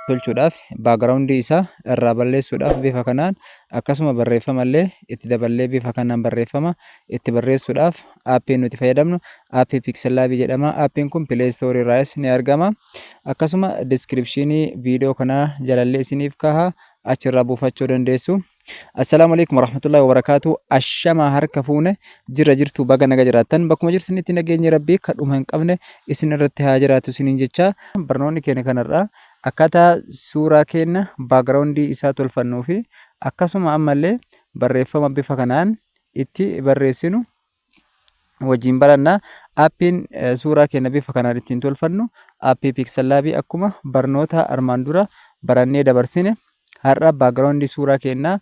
tolchuudhaaf baagiraawundii isaa irraa balleessuudhaaf bifa kanaan akkasuma barreeffama illee itti daballee bifa kanaan barreeffama itti barreessuudhaaf aappiin nuti fayyadamnu aappii piikselaabii jedhama aappiin kun pileestoorii irraas ni argama akkasuma diskiripshinii viidiyoo kanaa jalallee isiniif kaha achirraa buufachuu dandeessu. Assalaamu alaikum warahmatullahi wabarakatuh. Ashamaa harka fuune jirra jirtu baga naga jiraattan bakkuma jirtanitti nageenyi rabbii kadhuma hin qabne isin irratti haa jiraatu isiniin jecha barnoonni keenya kanarraa akkaataa suuraa keenya baagiraawundii isaa tolfannuu fi akkasuma ammallee barreeffama bifa kanaan itti barreessinu wajjin baranna. Appiin suuraa keenya bifa kanaan ittiin tolfannu appii Pixellaabii akkuma barnoota armaan dura barannee dabarsine har'a background suuraa keenya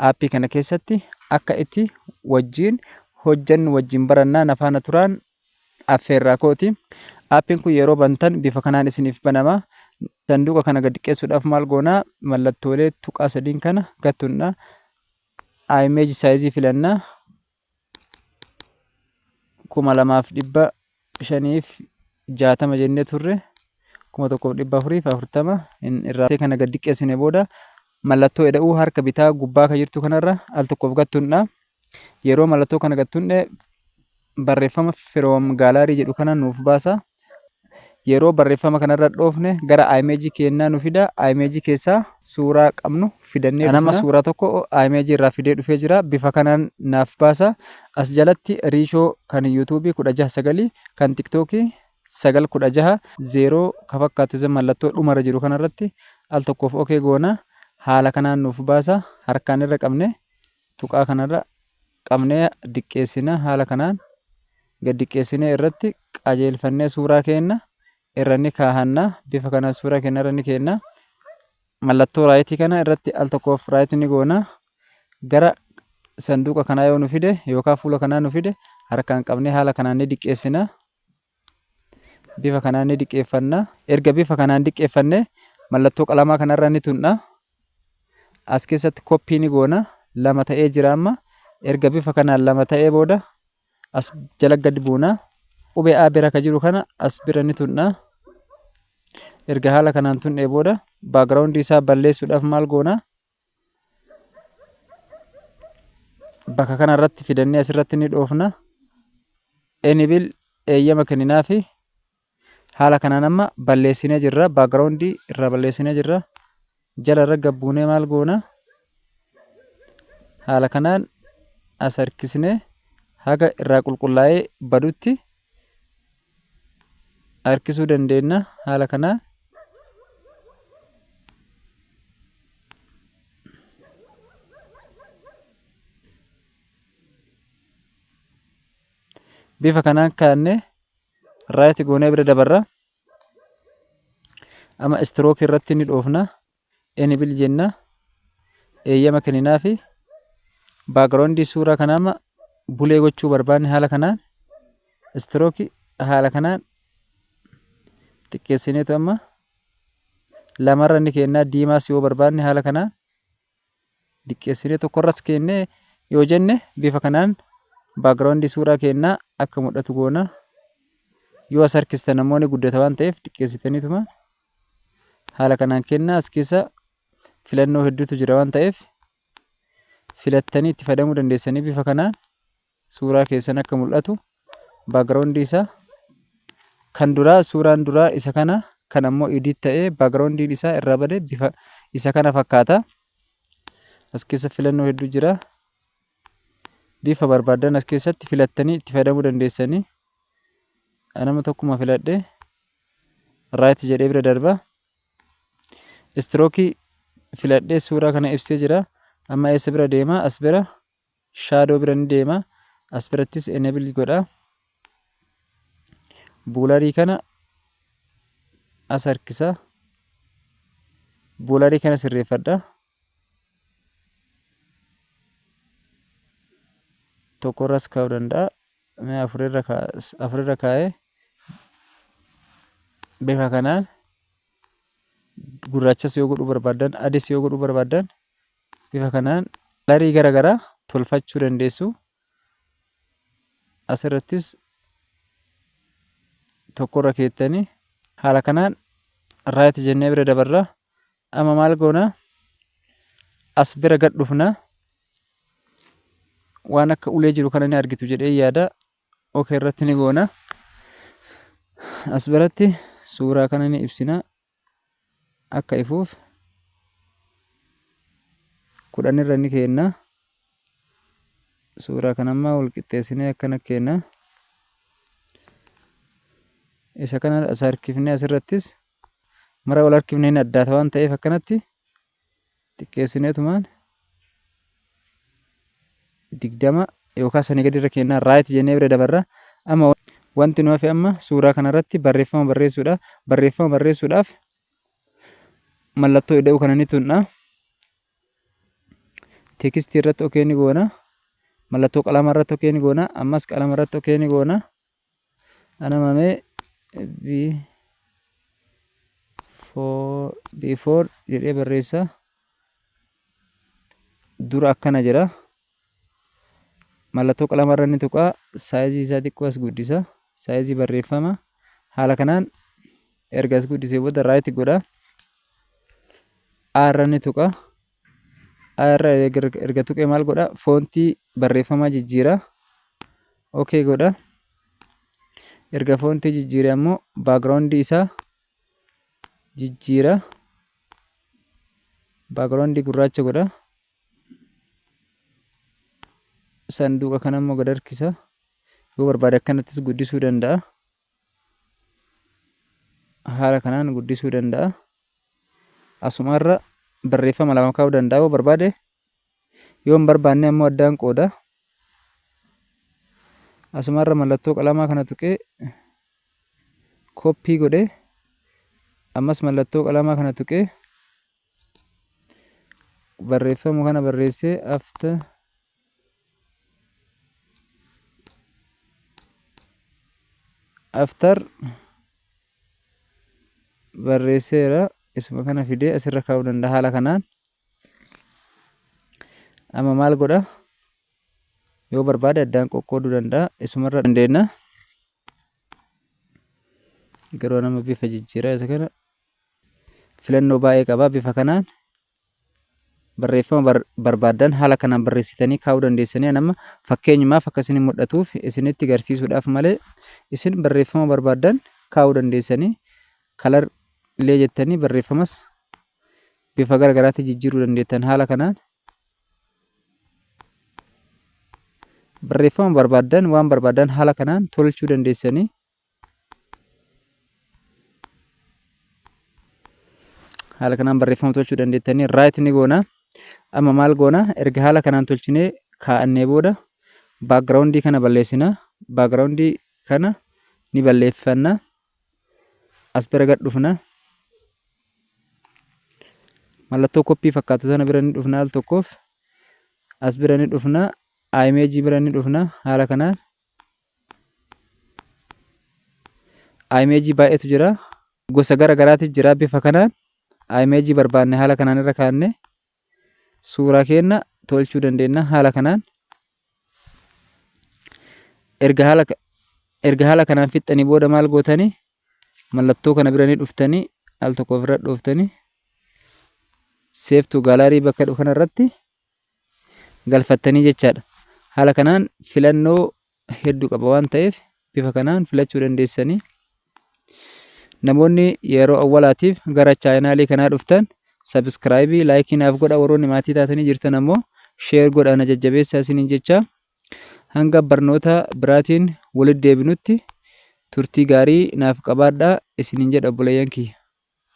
appii kana keessatti akka itti wajjin hojjannu wajjin barannaa na faana turaan affeerraa kooti. Appiin kun yeroo bantan bifa kanaan isiniif banama. Sanduuqa kana gad xiqqeessuudhaaf maal goonaa mallattoolee tuqaa sadiin kana gattunna. Image size filanna. kuma lamaaf dhibba shaniif jaatama jennee turre kuma tokkoof dhibba afuriif afurtama irraa kana gad diqqeessine booda mallattoo eda'uu harka bitaa gubbaa kan jirtu kanarra al tokkoof gattuundha. Yeroo mallattoo kana gattuundhe barreeffama firoom gaalaarii jedhu kana nuuf baasa. Yeroo barreeffama kanarra dhoofne gara image keennaa nu fida. Image keessaa suuraa qabnu fidannee dhufna. Anama suuraa tokko image irraa fidee dhufee jira. Bifa kanaan naaf baasa. As jalatti riishoo kan YouTube 16 9 kan TikTok 9 16 0 ka fakkaatu isa mallattoo dhumarra jiru kanarratti al tokkoof OK goona. Haala kanaan nuuf baasa. Harkaan irra qabne tuqaa kanarra qabnee diqqeessina. Haala kanaan gad diqqeessinee irratti qajeelfannee suuraa keenna irra ni kaahanna. Bifa kanaan suuraa keenna irra ni keenna. Mallattoo raayitii kana irratti al tokkoof raayit ni goona. Gara sanduuqa kanaa yoo nu fide yookaan fuula kanaa nu fide harkaan qabnee haala kanaan ni diqqeessina. Bifa kanaan ni diqqeeffanna. Erga bifa kanaan diqqeeffanne mallattoo qalamaa kanarra ni tunna. As keessatti koppii ni goona. Lama ta'ee jira amma. Erga bifa kanaan lama ta'ee booda as jala gad buuna. Qubee A bira ka jiru kana as bira ni tunna. Erga haala kanaan tunnee booda baagiraawundii isaa balleessuudhaaf maal goona? bakka kana irratti fidannee asirratti ni dhoofna enibil eeyyama kenninaa fi haala kanaan amma balleessinee jirra baakgiraawundii irraa balleessinee jirra jala irra gabbuunee maal goona haala kanaan as harkisnee haga irraa qulqullaa'ee badutti harkisuu dandeenna. Haala kanaan bifa kanaan kaa'annee raayit goonee bira dabarra. Amma istirookii irratti ni dhoofna. Enable jenna. Eeyyama kenninaafi. Background suuraa kanaa amma bulee gochuu barbaanne haala kanaan stroke haala kanaan xiqqeessineetu amma lamarra ni kennaa diimaas yoo barbaanne haala kanaan diqqeessinee tokkorras kennee yoo jenne bifa kanaan background suuraa kennaa akka mul'atu goona. Yoo as harkistan ammoo ni guddata waan ta'eef xiqqeessitaniituma Haala kanaan kennaa as keessa filannoo hedduutu jira waan ta'eef filattanii itti fayyadamuu dandeessanii bifa kanaan suuraa keessan akka mul'atu background isaa kan duraa suuraan duraa isa kana kan ammoo edit ta'ee background isaa irraa bade bifa isa kana fakkaata. As keessa filannoo hedduu jira. Bifa barbaadan as keessatti filattanii itti fayyadamuu dandeessanii. anama tokkuma filadhe right jedhee bira darba stroke filadhee suuraa kana ibsee jira amma eessa bira deema as bira shadow bira ni deema as birattis enable godha buularii kana as harkisa buularii kana sirreeffadha tokko irras kaa'uu danda'a. Mee afur irra kaa- afur irra kaa'ee bifa kanaan gurraachas yoo godhuu barbaaddan adis yoo godhuu barbaaddan bifa kanaan larii gara garaa tolfachuu dandeessu. Asirrattis tokkorra keettanii haala kanaan raayit jennee bira dabarra. Amma maal goona? As bira gad dhufna. Waan akka ulee jiru kana ni argitu jedhee yaada. OK irratti ni goona. As biratti suuraa kana ni ibsina. Akka ifuuf kudhan irra ni keenna. Suuraa kana ammaa wal qixxeessinee akkana keenna. Isa kana as harkifnee asirrattis mara wal harkifne hin addaata waan ta'eef akkanatti xiqqeessineetumaan digdama yookaan sanii gadi irra kennaa raayit jennee bira dabarra amma wanti nu hafe amma suuraa kanarratti barreeffama barreessuudha barreeffama barreessuudhaaf mallattoo ida'uu kana ni tunna teekistii irratti okee ni goona mallattoo qalama irratti okee ni goona ammas qalama irratti okee ni goona. Anama mee B for before jedhee barreessa dura akkana jedha mallattoo qalama irra ni tuqa saayizii isaa xiqqoo as guddisa saayizii barreeffama haala kanaan erga as guddisee booda raayit godha A irra ni tuqa irra erga tuqee maal godha foontii barreeffamaa jijjiira ok godha erga foontii jijjiire ammoo baakgiraawundii isaa jijjiira baakgiraawundii gurraacha godha sanduuqa kana ammoo gad harkisa yoo barbaade akkanattis guddisuu danda'a. haala kanaan guddisuu danda'a. Asumarra barreeffama lama kaa'uu danda'a yoo barbaade yoo hin barbaanne ammoo addaan qooda. Asumarra mallattoo qalamaa kana tuqee koppii godhee ammas mallattoo qalamaa kana tuqee barreeffama kana barreessee after after barreesseera isuma kana fidee asirra kaa'uu danda'a haala kanaan amma maal godha yoo barbaade addaan qoqqooduu danda'a isumarra dandeenya garuu nama bifa jijjiiraa isa kana filannoo baay'ee qaba bifa kanaan Barreeffama barbaaddan haala kanaan barreessitanii kaa'uu dandeessanii ani amma fakkeenyumaaf akka isin mul'atuuf isinitti garsiisuudhaaf malee isin barreeffama barbaaddan kaa'uu dandeessanii kalar illee jettanii barreeffamas bifa gara garaatti jijjiiruu dandeettan haala kanaan barreeffama barbaaddan waan barbaaddan haala kanaan tolchuu dandeessanii haala kanaan barreeffama tolchuu dandeettanii raayit ni goona amma maal goona erga haala kanaan tolchinee kaa'annee booda baakgiraawundii kana balleessina baakgiraawundii kana ni balleeffanna as bira gad dhufna mallattoo koppii fakkaatu sana bira ni dhufna al tokkoof as bira ni dhufna imeejii bira ni dhufna haala kanaan Imeejii baay'eetu jira. Gosa gara garaati jira bifa kanaan. Imeejii barbaanne haala kanaan irra kaanne suuraa keenna tolchuu dandeenya haala kanaan. Erga haala erga haala kanaan fixxanii booda maal gootanii mallattoo kana biranii dhuftanii al tokko ofirra dhooftanii seeftuu gaalarii bakka jedhu kanarratti galfattanii jechaadha. Haala kanaan filannoo hedduu qaba waan ta'eef bifa kanaan filachuu dandeessanii. Namoonni yeroo awwalaatiif gara chaayinaalii kanaa dhuftan sabiskiraayibii laayikii naaf godha warroonni maatii taatanii jirtan ammoo sheer godha na jajjabeessaa isiniin jecha hanga barnoota biraatiin walitti deebinutti turtii gaarii naaf qabaadhaa isiniin jedha obboleeyyan kiyya.